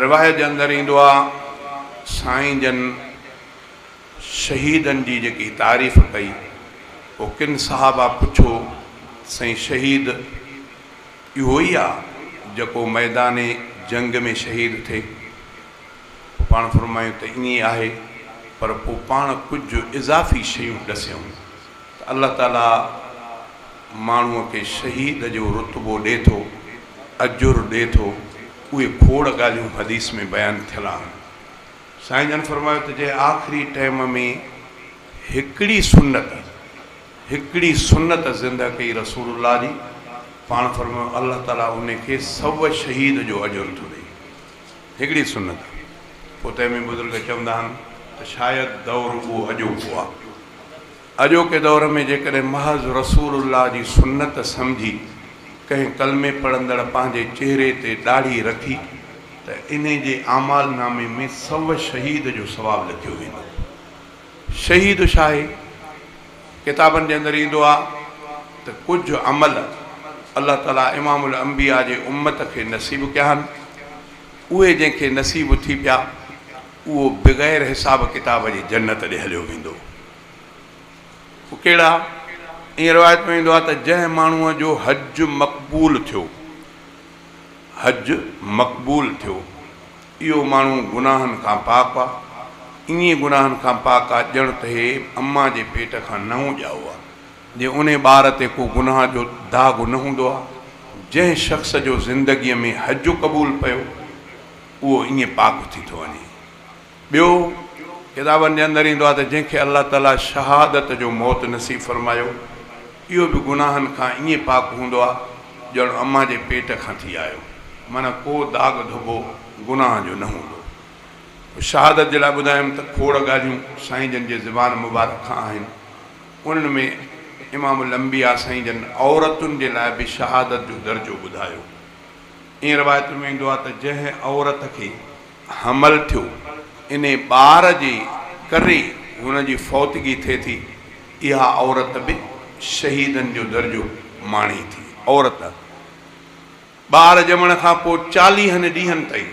روايت جي اندر ايندو آ سائين جن شهيدن جي جيڪي تعريف ڪئي پو ڪن صحابه پڇو ته سائين شهيد اهو ئي آ جيڪو ميدان جنگ ۾ شهيد ٿئي پو پاڻ فرمايون ته ائين آهي پر پو پاڻ ڪجهه اضافي شيون ڏسيون ته الله تعاليٰ ماڻهوء کي شهيد جو رتبو ڏي ٿو، اجر ڏي ٿو، اهي کوڙ ڳالهيون حديث ۾ بيان ٿيل آهن. سائين جن فرمايو ته جنهن آخري ٽيم ۾ هڪڙي سنت، هڪڙي سنت زنده ڪئي رسول الله جي، پاڻ فرمايو الله تعاليٰ ان کي سو شهيد جو اجر ٿو ڏئي. هڪڙي سنت آهي. پوء تنهن ۾ بزرگ چوندا آهن ته شايد دور اهو اڄوڪو آهي. اڄوڪي دور ۾ جيڪڏهن محض رسول الله جي سنت سمجهي ڪنهن ڪلمي پڙهندڙ پنهنجي چهري تي ڏاڙهي رکي ته انهي جي اعمال نامي ۾ سو شهيد جو ثواب لکيو ويندو. شهيد شاهي. ڪتابن جي اندر ايندو آهي ته ڪجهه عمل الله تعالي امام الانبياء جي امت کي نصيب ڪيا آهن اهي جنهن کي نصيب ٿي پيا اهو بغير حساب ڪتاب جي جنت ڏي هليو ويندو اهي ڪهڙا ائين روايت ۾ ايندو آهي ته جنهن ماڻهو جو حج مقبول ٿيو حج مقبول ٿيو اهو ماڻهو گناهن کان پاڪ آ، ائين گناهن کان پاڪ آ ڄڻ ته هي امان جي پيٽ کان نئون ڄائو آ، جي انهي ٻار تي ڪو گناهه جو داغ نه هوندو آ، جنهن شخص جو زندگيء ۾ حج قبول پيو، اهو ائين پاڪ ٿي ٿو وڃي. ٻيو، ڪتابن جي اندر ايندو آ ته جنهن کي الله تعاليٰ شهادت جو موت نصيب فرمايو، اهو به گناهن کان ائين پاڪ هوندو آ ڄڻ امان جي پيٽ کان ٿي آيو، معنيٰ ڪو داغ ڌٻو گناهن جو نه هوندو. پوء شهادت جي لاء ٻڌايم ته کوڙ ڳالهيون سائين جن جي زبان مبارڪ کان آهن، انهن ۾ امام الانبياء سائين جن عورتن جي لاء به شهادت جو درجو ٻڌايو. ائين روايت ۾ ايندو آ ته جنهن عورت کي. حمل ٿيو انهي ٻار جي ڪري هن جي فوتگي ٿئي ٿي اها عورت به شهيدن جو درجو ماڻي ٿي عورت ٻار ڄمڻ کان پوء چاليهن ڏينهن تائين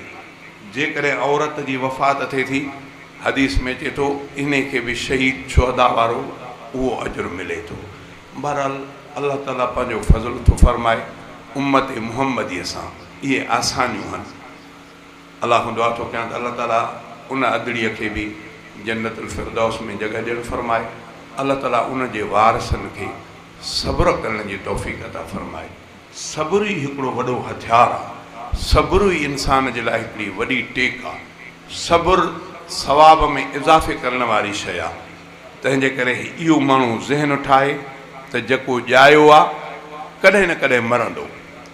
جيڪڏهن عورت جي وفات ٿئي ٿي حديث ۾ اچي ٿو انهي کي به شهيد شهداء وارو اهو اجر ملي ٿو بهرحال الله تعالي پنهنجو فضل ٿو فرمائي امت محمدي سان اهي آسانيون هن. الله کان دعا ٿو ڪيان ته الله تعالي ان ادڙي کي به جنت الفردوس ۾ جڳهه ڏيڻ فرمائي الله تعالي ان جي وارثن کي صبر ڪرڻ جي توفيق عطا فرمائي صبر ئي هڪڙو وڏو هٿيار آ صبر ئي انسان جي لاء هڪڙي وڏي ٽيڪ آ صبر ثواب ۾ اضافي ڪرڻ واري شئي آ تنهن جي ڪري اهو ماڻهو ذهن ٺاهي ته جيڪو ڄايو آ ڪڏهن نه ڪڏهن مرندو.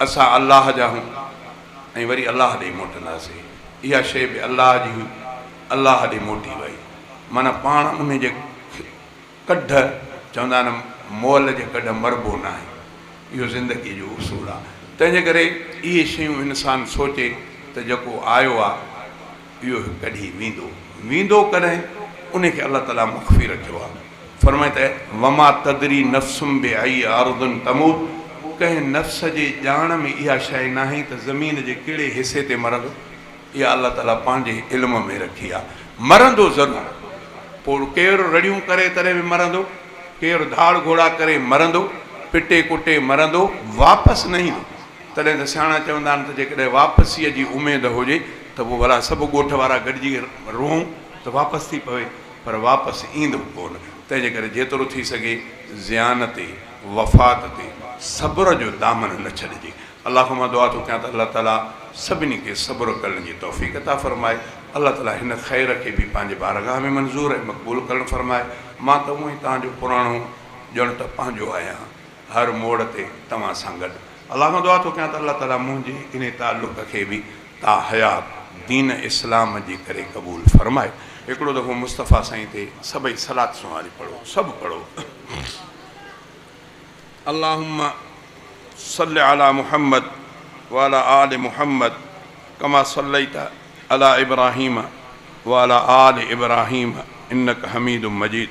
اسان الله جا آهيون ۽ وري الله ڏي موٽنداسين. اها شيء به الله جي هئي، الله ڏي موٽي وئي. معنيٰ پاڻ انهي جي ڪڍ، چوندا آهن مئل جي ڪڍ مربو ناهي. اهو زندگيء جو اصول آهي. تنهنجي ڪري اهي شيون انسان سوچي ته جيڪو آيو آهي اهو هڪ ڏينهن ويندو ويندو ڪڏهن ان کي الله تعالي مخفي رکيو آهي فرمائي ته وما تدري نفس بأي ارض تموت ڪنهن نفس جي ڄاڻ ۾ اها شئي ناهي ته زمين جي ڪهڙي حصي تي مرندو اها الله تعالي پنهنجي علم ۾ رکي آهي مرندو ضرور پوء ڪير رڙيون ڪري تڏهن به مرندو ڪير ڌاڙ گهوڙا ڪري مرندو پٽي ڪٽي مرندو واپس نه ايندو تڏهن ته سياڻا چوندا آهن ته جيڪڏهن واپسيء جي اميد هجي ته پوء ڀلا سڀ ڳوٺ وارا گڏجي روئون ته واپس ٿي پوي، پر واپس ايندو ڪو نه، تنهنجي ڪري جيترو ٿي سگهي زيان تي، وفات تي، صبر جو دامن نه ڇڏجي. الله کان مان دعا ٿو ڪيان ته الله تعاليٰ سڀني کي صبر ڪرڻ جي توفيق عطا فرمائي. الله تعاليٰ هن خير کي به پنهنجي بارگاهه ۾ منظور ۽ مقبول ڪرڻ فرمائي. مان ته اونئين توهان جو پراڻو ڄڻ ته پنهنجو آهيان. هر موڙ تي توهان سان گڏ. الله کان دعا ٿو ڪيان ته الله تعالي منهنجي انهي تعلق کي به تا حيات دين اسلام جي ڪري قبول فرمائي. هڪڙو دفعو مصطفيٰ سائين تي سڀئي صلات سونهاري پڙهو سڀ پڙهو اللهم صل علي محمد وعلي آل محمد ڪما صليت علي ابراهيم وعلي آل ابراهيم انک حميد مجيد